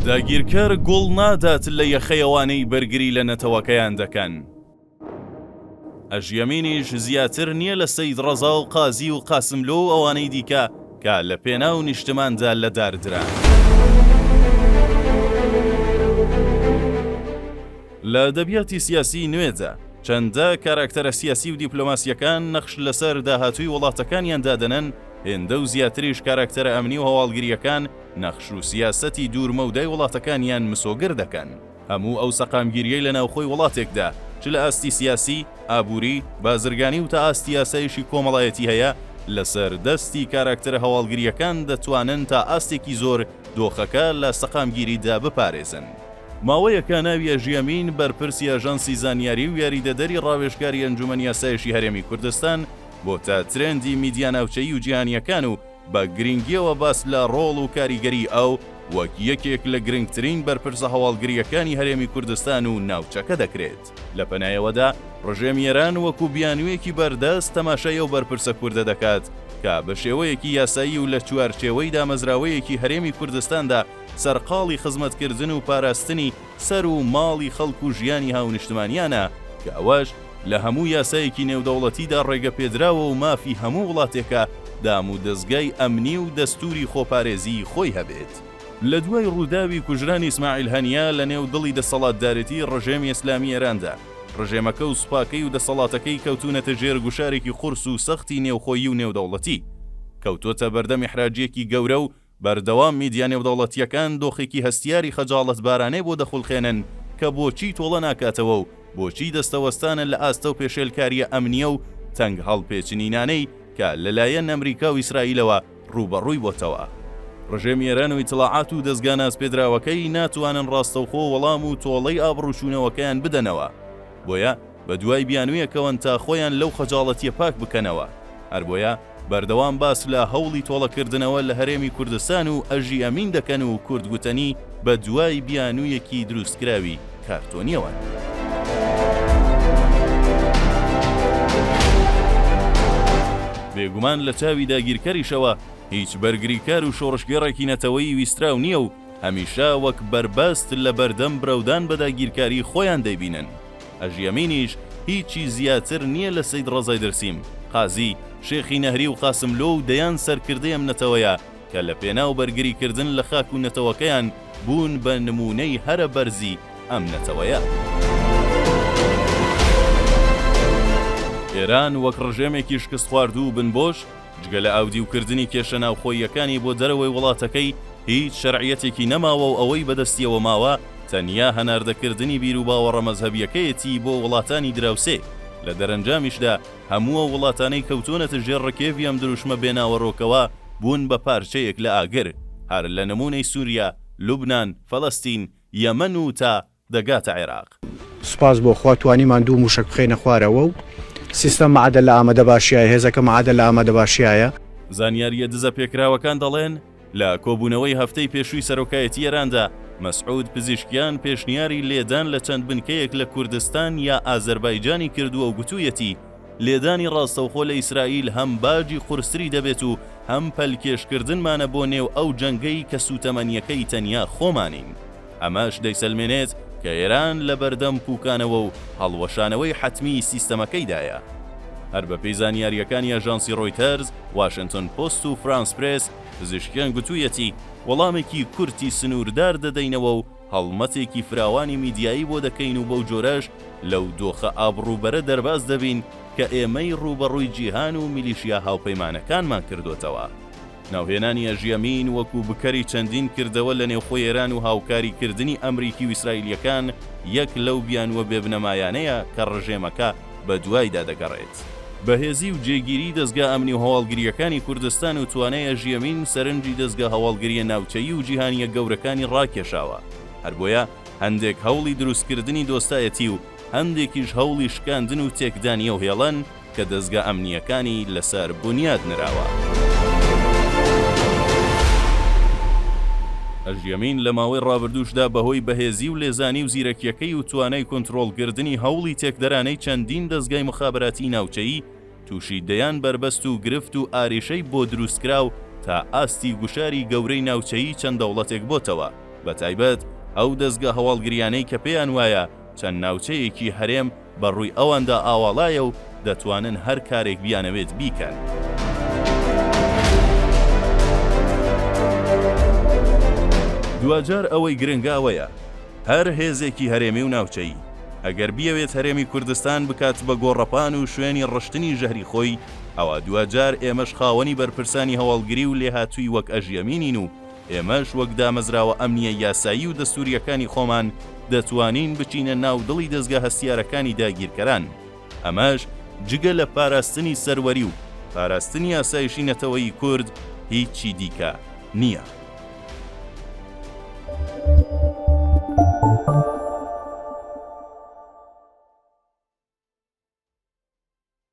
داگیرکەر گوڵ نادات لە یەخەی ئەوانەی بەرگری لە نەتەوەکەیان دەکەن. ئەژیەمینیش زیاتر نیە لە سەید ڕەزا و قازی و قاسملۆ و ئەوانەی دیکە کە لە پێناو نیشتماندا لە دار دران. لە ئەدەبیاتی سیاسی نوێدا، چەندە کاراکتەرە سیاسی و دیپلۆماسیەکان نەخش لەسەر داهاتووی وڵاتەکانیان دادەنەن، هێندە و زیاتریش کاراکتەرە ئەمنی و هەواڵگریەکان، نەخش و سیاسەتی دوورمەودای وڵاتەکانیان مسۆگەر دەکەن. هەموو ئەو سەقامگیریەی لە ناوخۆی وڵاتێکدا، چ لە ئاستی سیاسی، ئابووری، بازرگانی و تا ئاستی ئاسایشی کۆمەڵایەتی هەیە، لەسەر دەستی کاراکتەرە هەواڵگرییەکان دەتوانن تا ئاستێکی زۆر دۆخەکە لە سەقامگیریدا بپارێزن. ماوەیەکە ناوی ئەژیەمین، بەرپرسی ئاژانسی زانیاری و یاریدەدەری ڕاوێژکاری ئەنجومەنی ئاسایشی هەرێمی کوردستان، بۆتە ترێندی میدیا ناوچەیی و جیهانییەکان و، بە گرینگییەوە باس لە ڕۆڵ و کاریگەریی ئەو وەک یەکێک لە گرنگترین بەرپرسە هەواڵگرییەکانی هەرێمی کوردستان و ناوچەکە دەکرێت. لە پەنایەوەدا ڕژێمی ئێران وەکوو بیانوویەکی بەردەست تەماشای ئەو بەرپرسە کوردە دەکات کە بە شێوەیەکی یاسایی و لە چوارچێوەی دامەزراوەیەکی هەرێمی کوردستاندا سەرقاڵی خزمەتکردن و پاراستنی سەر و ماڵی خەڵک و ژیانی هاونیشتمانیانە کە ئەوەش لە هەموو یاسایەکی نێودەوڵەتیدا ڕێگەپێدراوە و مافی هەموو وڵاتێکە دامودەزگای ئەمنی و دەستووری خۆپارێزیی خۆی هەبێت. لە دوای ڕووداوی کوژرانی ئیسماعیل هەنیە لە نێو دڵی دەسەڵاتدارێتیی ڕژێمی ئیسلامیی ئێراندا، ڕژێمەکە و سوپاکەی و دەسەڵاتەکەی کەوتوونەتە ژێر گوشارێکی قورس و سەختی نێوخۆیی و نێودەوڵەتی. کەوتۆتە بەردەم ئیحراجییەکی گەورە و بەردەوام میدیا نێودەوڵەتییەکان دۆخێکی هەستیاری خەجاڵەتبارانەی بۆ دەخولقێنن کە بۆچی تۆڵە ناکاتەوە و بۆچی دەستەوەستانە لە ئاستەو پێشێلکارییە ئەمنییە و تەنگ هەڵپێچنینانەی کە لە لایەن ئەمریکا و ئیسرائیلەوە ڕووبەڕووی بۆتەوە. ڕژێمی ئێران و ئیتڵاعات و دەزگا ناسپێدراوەکەی ناتوانن ڕاستەوخۆ وەڵام و تۆڵەی ئابڕووچوونەوەکەیان بدەنەوە. بۆیە. بەدوای بیانویەکەوەن تا خۆیان لەو خەجاڵەتیە پاک بکەنەوە، هەربۆیە بەردەوام باس لە هەوڵی تۆڵە کردنەوە لە هەرێمی کوردستان و ئەژی ئەمین دەکەن و کورد گوتەنی بە دوای بیانویەکی دروستکراوی کارتۆنیەوەن. بێگومان لە چاوی داگیرکەریشەوە هیچ بەرگریکار و شۆڕشگێڕێکی نەتەوەی ویستراو نیە و هەمیشە وەک بەربەست لە بەردەم برەودان بە داگیرکاری خۆیان دەیبینن. هەژی ئەمینیش هیچی زیاتر نیە لە سەید ڕەزای دەرسیم، قازی، شێخی نەهری و قاسملۆ و دەیان سەرکردەی ئەم نەتەوەیە کە لە پێناو بەرگری کردن لە خاک و نەتەوەکەیان بوون بە نموونەی هەرە بەرزی ئەم نەتەوەیە. ئێران وەک ڕژێمێکی شکستخواردوو و بنبۆش، جگە لە ئاودیوکردنی کێشە ناوخۆییەکانی بۆ دەرەوەی وڵاتەکەی، هیچ شەرعیەتێکی نەماوە و ئەوەی بەدەستیەوە ماوە تەنیا هەناردەکردنی بیروباوەڕە مەزهەبیەکەیەتی بۆ وڵاتانی دراوسێ، لە دەرەنجامیشدا هەموو ئەو وڵاتانەی کەوتوونەتە ژێر ڕکێڤی ئەم دروشمە بێ ناوەرۆکەوە بوون بە پارچەیەک لە ئاگر، هەر لە نموونەی سوریا، لوبنان، فەلەستین، یەمەن و تا. دەگاتە عێراق. سوپاس بۆ خوا توانیمان دوو مووشەک بخەینە خوارەوە و سیستەم مەعەدەل لە ئامەدەباشیایە، هێزەکە مەعەدەل لە ئامادەباشیایە. زانیارییە دزەپێکراوەکان دەڵێن، لە کۆبوونەوەی هەفتەی پێشووی سەرۆکایەتی ئێراندا، مەسعود پزیشکیان پێشنیاری لێدان لە چەند بنکەیەک لە کوردستان یا ئازەربایجانی کردووە و گوتوویەتی، لێدانی ڕاستەوخۆ لە ئیسرائیل هەم باجی قورستری دەبێت و هەم پەلکێشکردنمانە بۆ نێو ئەو جەنگەی کە سووتەمەنییەکەی تەنیا خۆمانین. ئەمەش دەیسەلمێنێت کە ئێران لە بەردەم پووکانەوە و هەڵوەشانەوەی حەتمیی سیستەمەکەیدایە. هەر بەپێی زانیارییەکانی ئاژانسی ڕۆیتەرز، واشنتۆن پۆست و فرانس پرێس، پزیشکیان گوتوویەتی، وەڵامێکی کورتی سنووردار دەدەینەوە و هەڵمەتێکی فراوانی میدیایی بۆ دەکەین و بەو جۆرەش لەو دۆخە ئابڕووبەرە دەرباز دەبین کە ئێمەی ڕووبەڕووی جیهان و میلیشیا هاوپەیمانەکانمان کردۆتەوە. ناوهێنانی ئەژیەمین وەکو بکەری چەندین کردەوە لە نێوخۆی ئێران و هاوکاری کردنی ئەمریکی و ئیسرائیلیەکان یەک لەو بیانووە بێ بنەمایانەیە کە ڕژێمەکە بە دوایدا دەگەڕێت. بەهێزی و جێگیری دەزگا ئەمنی و هەواڵگریەکانی کوردستان و توانای ئەژیەمین سەرنجی دەزگا هەواڵگریە ناوچەیی و جیهانیە گەورەکانی ڕاکێشاوە هەر بۆیە هەندێک هەوڵی دروستکردنی دۆستایەتی و هەندێکیش هەوڵی شکاندن و تێکدانیەو هێڵن کە دەزگا ئەمنییەکانی لەسەر بونیاد نراوە. ئەژیەمین لە ماوەی ڕابردووشدا بەهۆی بەهێزی و لێزانی و زیرەکیەکەی و توانای کونتڕۆڵکردنی هەوڵی تێکدەرانەی چەندین دەزگای موخابەراتیی ناوچەیی تووشی دەیان بەربەست و گرفت و ئاریشەی بۆ دروستکرا و تا ئاستی گوشاری گەورەی ناوچەیی چەند دەوڵەتێک بۆتەوە بەتایبەت ئەو دەزگا هەواڵگریانەی کە پێیان وایە چەند ناوچەیەکی هەرێم بە ڕووی ئەواندا ئاواڵایە و دەتوانن هەر کارێک بیانەوێت بیکەن. دواجار ئەوەی گرنگە ئەوەیە هەر هێزێکی هەرێمی و ناوچەیی ئەگەر بیەوێت هەرێمی کوردستان بکات بە گۆڕەپان و شوێنی ڕشتنی ژەهری خۆی ئەوا دواجار ئێمەش خاوەنی بەرپرسانی هەواڵگری و لێهاتووی وەک ئەژیەمینین و ئێمەش وەک دامەزراوە ئەمنییە یاسایی و دەستوورییەکانی خۆمان دەتوانین بچینە ناو دڵی دەزگا هەستیارەکانی داگیرکەران، ئەمەش جگە لە پاراستنی سەروەری و پاراستنی ئاسایشی نەتەوەیی کورد هیچی دیکە نییە.